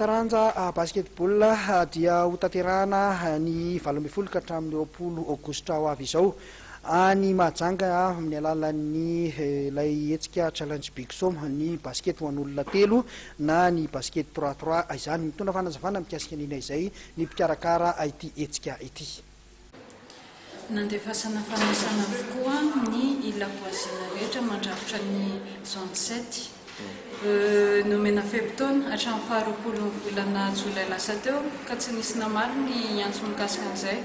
Taranja basketball dia ho tanterahana ny valo ambin'ny folo ka hatramin'ny roapolo aogositra ho avy izao any Mahajanga amin'ny alalan'ny ilay hetsika Challenge Big Som, ny basket ho an'olona telo na ny basket trois trois izany. Mitondra fanazavana mikasika an'ina izay ny mpikarakara ity hetsika ity. Nandefasana fanisana avokoa ny ila voisin rehetra mandrafitra ny zone sept. Nomena fe-potoana hatramin'ny faharoapolon'ny volana jolay lasa teo ka tsy nisy namaly ny antso mikasika an'izay.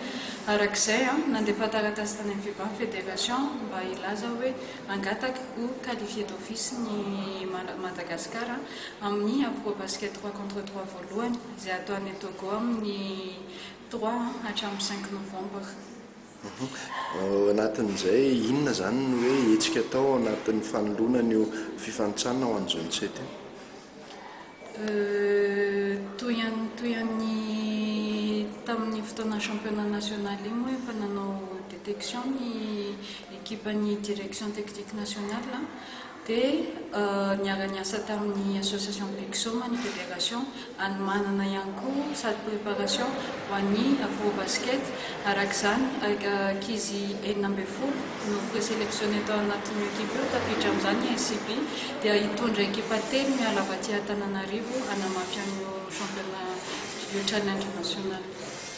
Araka izay, nandefa taratasy tany amin'ny fiban federation mba hilaza hoe hangataka ho qualifier d'office ny Madagascar amin'ny Afro Basket trois contre trois voalohany izay hatao any Togo amin'ny Droit an, hatramin'ny cinq novembre. Ao anatin'izay, inona izany no hoe hetsika atao ao anatin'ny fanoloana an'io fifanintsanana ho an'ny zone sept io? Euh, toy an'ny toy an'ny tamin'ny fotoana championnat national iny moa efa nanao detection ny ekipan'ny direction technique nationale an. dia niara-niasa tamin'ny Association Bixoma ny Fédération hanomanana ihany koa salle préparation ho an'ny Afro Basket, araka izany ankizy enina ambin'ny folo no présélectionné tao anatin'io équipe io, tafiditra amin'izany ny SCB dia hitondra équipe telo miala avy aty Antananarivo hanamafy an'io championnat io challenge national.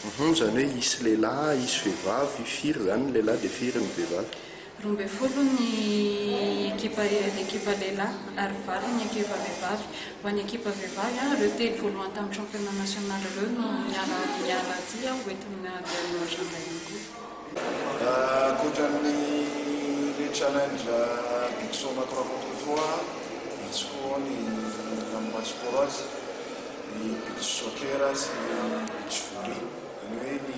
Uhum, izany hoe hisy lehilahy hisy vehivavy, firy izany ny lehilahy dia firy ny vehivavy? Roa ambin'ny folo ny ekipa ekipa lehilahy ary valo ny ekipa vehivavy. Ho an'ny ekipa vehivavy, ireo telo voalohany tamin'ny championnat national ireo no miala miala aty ho entina handeha hanao agenda ihany koa. Ankoatra ny le challenge Big Soma trois contre trois, misy koa ny Campus Coros, ny Beach Soccer sy ny Beach Volley. Izany hoe ny